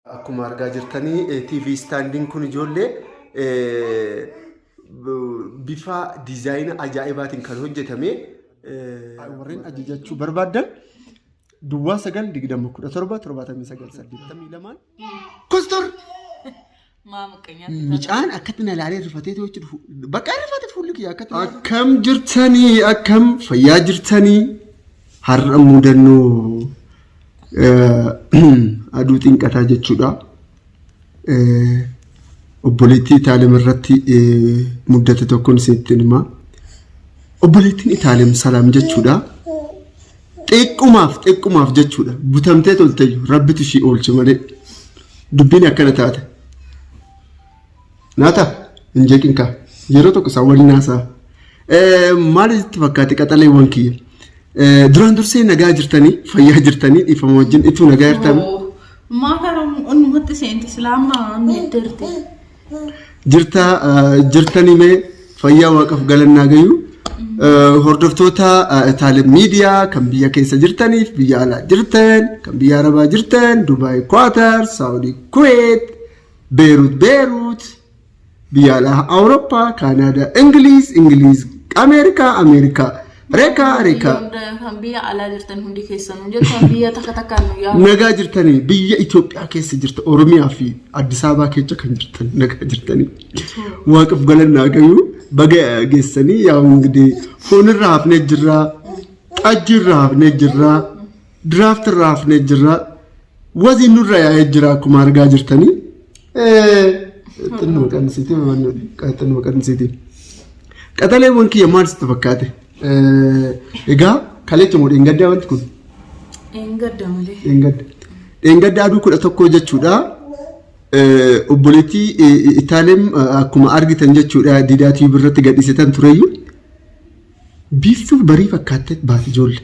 Akkuma argaa jirtanii TV standing kun ijoollee bifa diizaayina ajaa'ibaatiin kan hojjetame warreen ajajachuu barbaaddan duwwaa sagal digdama kudha torba torbaatamii sagal saddeettamii lamaan kostor micaan akkatti na ilaalee rifatee to'achi dhufu bakka rifate fuulli kiyya akkatti akkam jirtanii akkam fayyaa jirtanii har'a mudannoo aduu xinqataa jechuudha. Obboleettii Itaalem irratti muddate tokkoon isinitti hima. Obboleettiin Itaalem salaam jechuudha. Xiqqumaaf xiqqumaaf jechuudha. Butamtee toltayyu rabbitu ishii oolche malee dubbiin akkana taate. Naata hin jeeqin kaa yeroo tokko isaa waliin haasaa. Maali itti fakkaate qaxaleewwan kiyya? Duraan dursee nagaa jirtanii fayyaa jirtanii dhiifama wajjin ituu nagaa jirtan Maa kana onnumatti seente islaamaa miidhagdeerti. jirta jirtanii mee fayyaa waaqaf galannaa gayuu. Hordoftoota taalee miidiyaa kan biyya keessa jirtaniif biyya alaa jirtan kan biyya arabaa jirtan Dubaay Kwaatar Saawudii Kuweet Beerut Beerut biyya alaa Awurooppaa Kaanaadaa Ingiliiz Ingiliiz Ameerikaa Ameerikaa Rekaa Rekaa Kan biyya alaa jirtan hundi keessanuu jechuun biyya takka takkaan nu yaadu. nagaa jirtanii biyya Itoophiyaa keessa jirta Oromiyaa fi Addis Ababaa keessa kan jirtan nagaa jirtanii waaqaf galannaa gayuu baga geessanii yaa hundee foonirra hafnee jirraa xajjiirra hafnee jirraa Diraaft irraa hafnee jirra. Waziin nurra yaa'ee jira akkuma argaa jirtanii. Xinnuma qannisiitii xinnuma qannisiitii. Qaxaleewwan kiyya maal sitti fakkaate? Egaa kaleecha moo dheengaddaa wanti kun? Dheengadda malee. Dheengadda. Dheengadda aduu kudha tokkoo jechuudha. Obboleettii Itaalem akkuma argitan jechuudha diidaa tiibii irratti gadhiisitan tureyyuu. Biiftuu barii fakkaatteet baati ijoollee.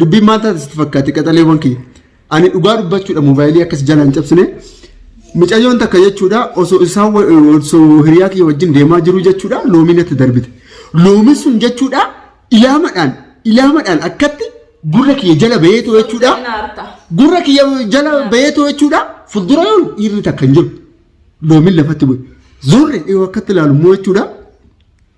Dubbiin maal taate sitti fakkaate qaxaleewwan kiyya. Ani dhugaa dubbachuudha moobaayilii akkas jala hin cabsine. Micayyoon takka jechuudha osoo isaa osoo hiriyaa kiyya wajjin deemaa jiru jechuudha loomii natti darbite. Loomiin sun jechuudha ilaamadhaan ilaamadhaan akkatti gurra kiyya jala bahee too jechuudha. Gurra kiyya jala bahee too jechuudha fuuldura yoon dhiirri takka hin jiru. Loomiin lafatti bu'e. Zorri yoo akkatti ilaalu immoo jechuudha.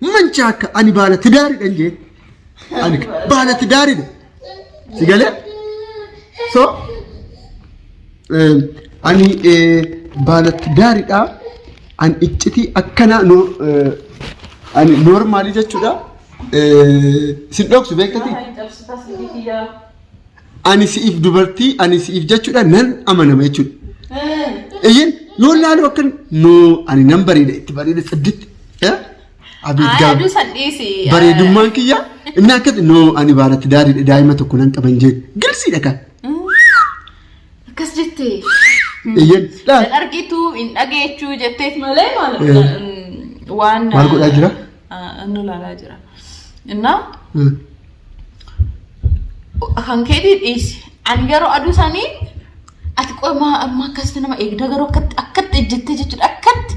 Mancha akka ani baala tidaaridhan jee. Ani baala tidaaridha. Si galee? So eh, ani eh, baala tidaaridha. Ani iccitii akkana no eh, ani normaalii jechuudha. Eh, Sin dhoksu beektati? Ay, cabsitas hindi kiyyaa. ani si'if dubartii ani si'if jechuudha nan amanama jechuudha. Iyyin yoo laalu akka noo ani nan bareeda itti bareeda sadditti. Abiit Ayaa gaaf duusan dhiisi. bareedummaan kiyya inni akkati noo ani baaratti daariidha daa'ima tokko nan qaban jee girsiidha kan. Akkas jette. Iyyin Hin argitu hin dhageechu jetteet malee maal Eh. waan. Maal godhaa jira? nu ilaalaa jira. Innaa kan keetii dhiisi. Ani garuu aduu sanii ati qoy maa amma akkasitti nama eegda garuu akkatti akkatti ejjettee jechuudha akkatti.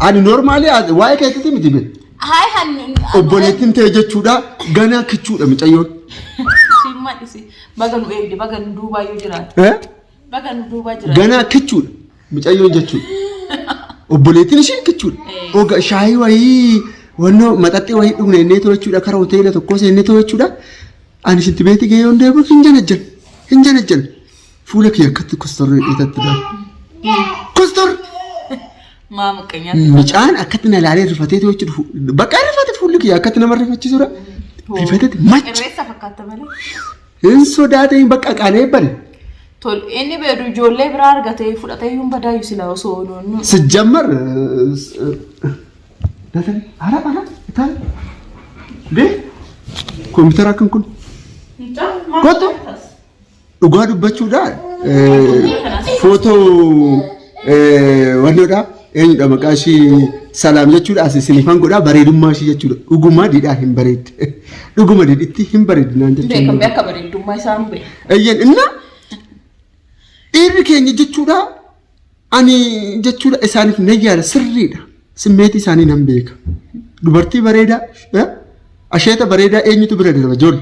Ani normaali waa'ee keessatti miti bee. Haay han. Obboleettiin ta'e jechuudha ganaa kichuudha micayyoon. Simma dhisi baga nu eegde baga nu duubaa yoo jiraate. Eh? Baga nu duuba jira. Ganaa kichuudha. Mucayyoon jechuudha. Obboleettiin ishee kichuudha. Eh. Oga shaayii wayii wannoo maxaxxii wayii dhugna innee too jechuudha. Kara hoteela tokkoo seennee too jechuudha. Ani shinti beetii gahee yoon deebi'u hin janajjan. Hin janajjan. Fuula kiyya akkatti kostorri dhiitatti dha. Kostor! Maa muqqeenyaa. Mucaan akkatti na ilaalee rifatee too jechuudha. Fu- Bakka rifate fuulli kiyya akkatti nama rifachiisudha. Rifateeti macha. Irreessa fakkaata malee. Hin sodaatiin bakka qanee bari. Tol inni beedu ijoollee biraa argatee fudhatee hin badaayu silaa osoo ooluu. Sijjammar datan ara ara itaan bee kompiitara akkan kun kottu dhugaa dubbachuudhaan footoo wannoodhaa Eenyudha maqaa ishii salaam jechuudha asi sinifan godha bareedummaa ishii jechuudha dhuguma didhaa hin bareedde dhuguma didhitti hin bareeddi naan jechuudha. Beekamee akka bareeddummaa isaa hin beeku. Eeyyeen inna dhiirri keenya jechuudha ani jechuudha isaaniif nan yaada sirriidha simmeetii isaanii nan beeka dubartii bareedaa eh, asheeta bareedaa eenyutu bira darba joorri.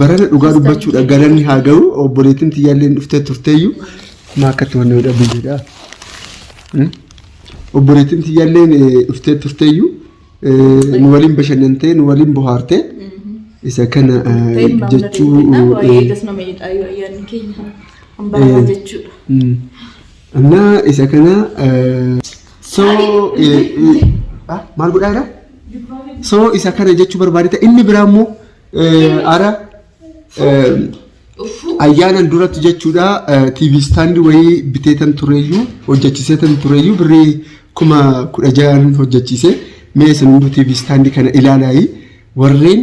Barana dhugaa dubbachuudha galanni haa ga'u obboleettiin tiyyaallee dhuftee turteeyyuu maa akkatti wanni godha biyyeedha. Obboleettiin tiyyaallee dhuftee turteeyyuu nu waliin bashannantee nu waliin bohaartee isa kana jechuu. Annaa isa kana soo maal godhaa jira? Soo isa kana jechuu barbaadita inni biraa immoo Ara ayyaanan duratti jechuudha TV istaandii wayii biteetan tureyyuu hojjechiiseetan tureyyuu birrii kuma kudha ja'an hojjechiise mee isin hunduu TV istaandii kana ilaalaayi warreen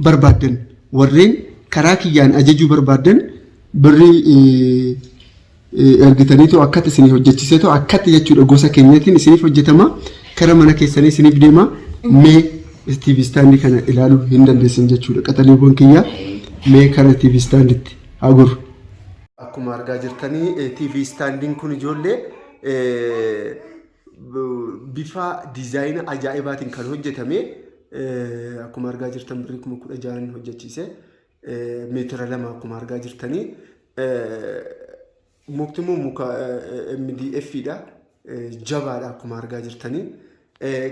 barbaaddan warreen karaa kiyyaan ajajuu barbaaddan birrii ergitaniitoo akkatti isinii hojjechiiseetoo akkatti jechuudha gosa keenyatiin isiniif hojjetama kara mana keessanii isiniif deema mee TV istaandii kana ilaaluu hin dandeessan jechuudha qaxaleewwan kiyyaa mee kara TV istaanditti haa goru. Akkuma argaa jirtanii TV istaandiin kun ijoollee bifa diizaayina ajaa'ibaatiin kan hojjetame akkuma argaa jirtan birrii kuma kudha ja'an hojjechiise meetira lama akkuma argaa jirtanii mukti immoo muka MDF dha. Jabaadha akkuma argaa jirtanii.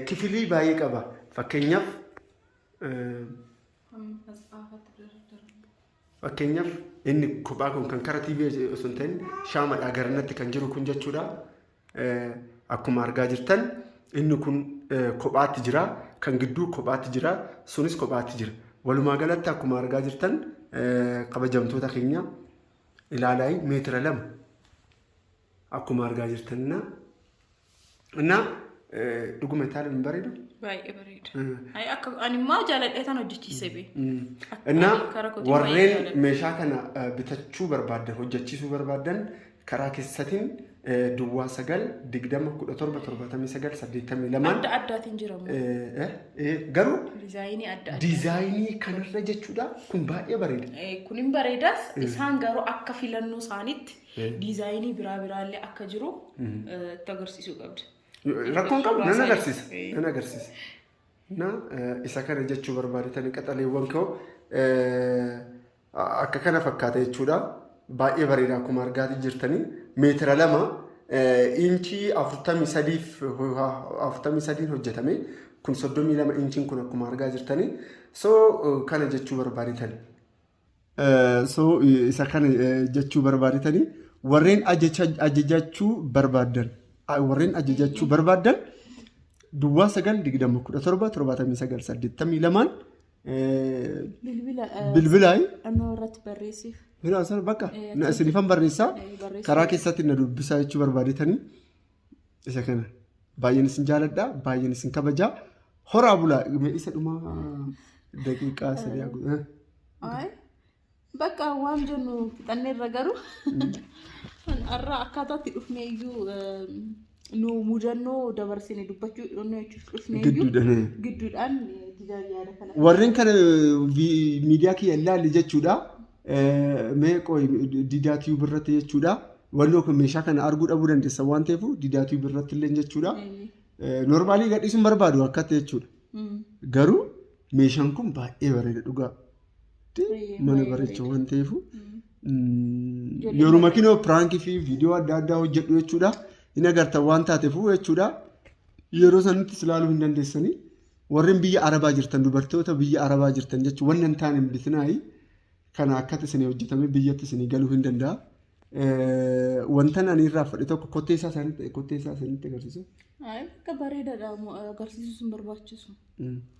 Kifilii baay'ee qaba. Fakkeenyaaf fakkeenyaaf inni kophaa kun kan kara TV osoo hin ta'in shaamadha garanatti kan jiru kun jechuudha. Akkuma argaa jirtan inni kun kophaatti jira. Kan gidduu kophaatti jira. Sunis kophaatti jira. Walumaa galatti akkuma argaa jirtan kabajamtoota keenya ilaalaa meetira lama akkuma argaa jirtan na na dhuguma itaaluun hin bareedu. Baay'ee bareeda. Ay, Akka ani immoo jaaladhee tan hojjechiise bee. እና Karaa kootiin baay'ee ወሬን jaaladha. meeshaa kana eh, bitachuu barbaaddan hojjechiisuu barbaaddan karaa kessatin duwwaa 9 20 17 79 82 Adda addaatiin jira moo? eh, eh, eh, garuu Dizaayinii adda addaa. diizaayinii kanarra jechuudha kun baay'ee bareeda. Eh, Kun hin bareedas. Isaan garuu akka filannoo isaaniitti Eh. diizaayinii biraa biraallee akka jiru eh, itti agarsiisuu qabda. Rakkoon qabu nan agarsiisa. Eh. Nan agarsiisa. Na eh, isa kana jechuu barbaadatan qaxaleewwan koo eh, Akka kana fakkaata jechuudha. Baay'ee bareeda akkuma argaatii jirtanii meetira lama inchii afurtamii sadiif afurtamii sadiin hojjetame kun soddomii lama inchiin kun akkuma argaa jirtanii so kana jechuu barbaaditan. So isa kana jechuu barbaaditanii warreen ajajachuu barbaaddan warreen ajajachuu barbaaddan duwwaa sagal digdama kudha torba torbaatamii sagal saddeettamii lamaan Bilbila eh, Bilbilaayi. dhannoo irratti barreessiif. Bilaa sana bakka Eh, na isinifan barreessaa Eh, barreessaa. karaa keessatti na dubbisaa jechuu barbaadetanii isa kana baay'een isin jaaladha baay'een isin kabajaa horaa bulaa Mee isa dhumaa daqiiqaa sadii haa godhu. Ay, Bakka waan jennu fixanneerra garuu har'a akkaataatti dhufnee iyyuu nu mudannoo dabarsine dubbachuu dhufnee jechuuf dhufnee iyyuu Gidduudhaan. gidduudhaan didaan yaada kana. Warreen kana vi- miidiyaa kiyya ilaalli jechuudha. Eh, Mee qoy didaa tiyuub irratti jechuudha. Wanni yookiin meeshaa kana arguu dhabuu dandeessan waan ta'eef didaa tiyuub irratti illee jechuudha. Eh, Normaalii gadhiisuun barbaadu akkatti jechuudha. Mm. Garuu meeshaan kun baay'ee bareeda dhugaa. mana bareecha waan ta'eef yeruma kinoo piraankii fi viidiyoo adda addaa hojjedhu jechuudha. Hin agartan waan taateefuu jechuudha. Yeroo sanitti ilaaluu hin dandeessanii. Warreen biyya Arabaa jirtan dubartoota biyya Arabaa jirtan jechuun wanni hin taane hin bitinaayi. Kana akkatti isin hojjetamee biyyatti isin galuu hin danda'a. Wantan ani irraa fudhe tokko kottee isaa isaanitti kottee isaa isaanitti agarsiisu. Ayi bakka bareedaadha mo- agarsiisuus hin barbaachisu.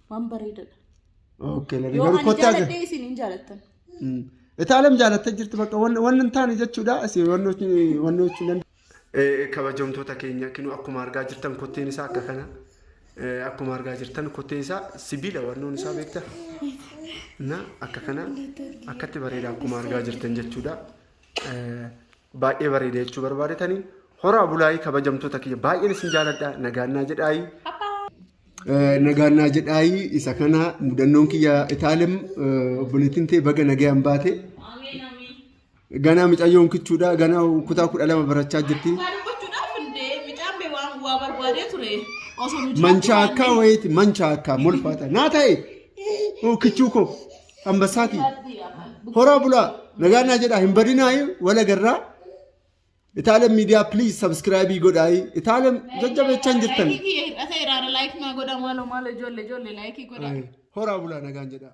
Waan bareedaadha. Okay, lalee Yoo garuu ani kottee agar- jaaladhee isin hin jaalattan. Mm. Itaalam jaalattee jirti bakka wanni wanni hin taane jechuudha. Asi wanni hojii- wanni hojii nan- Eh, kabajamtoota keenya kinu akkuma argaa jirtan kotteen isaa akka kana Akkuma argaa jirtan kottee isaa sibiila wannoon isaa beekta. Na akka kana akkatti bareeda akkuma argaa jirtan jechuudha. Baay'ee bareeda jechuu barbaadetanii horaa bulaayii kabajamtoota kiyya baay'een isin jaaladha nagaannaa jedhaayii. Nagaannaa jedhaayii isa kana mudannoon kiyya itaalim obboleettiin tee baga nagayaan baate. Ganaa micayyoon kichuudha. Ganaa kutaa kudha lama barachaa jirti. Maal gochuudhaaf hundee mucaan bee waan waa barbaadee ture osoo nu Manchaa akkaa wayiiti manchaa akkaa molfaata. Naa ta'e oo kichuu koo ambassaati. Horaa bulaa nagaan naa jedhaa hin badinaayi wala garraa. Itaalam miidiyaa please subscribe godhaayi. Itaalam jajjabeechaan jirtan. Laayikii kiyya hir'ateera laayikii naa godhaa maaloo maaloo ijoollee ijoollee laayikii godhaa. Horaa bulaa nagaan jedhaa.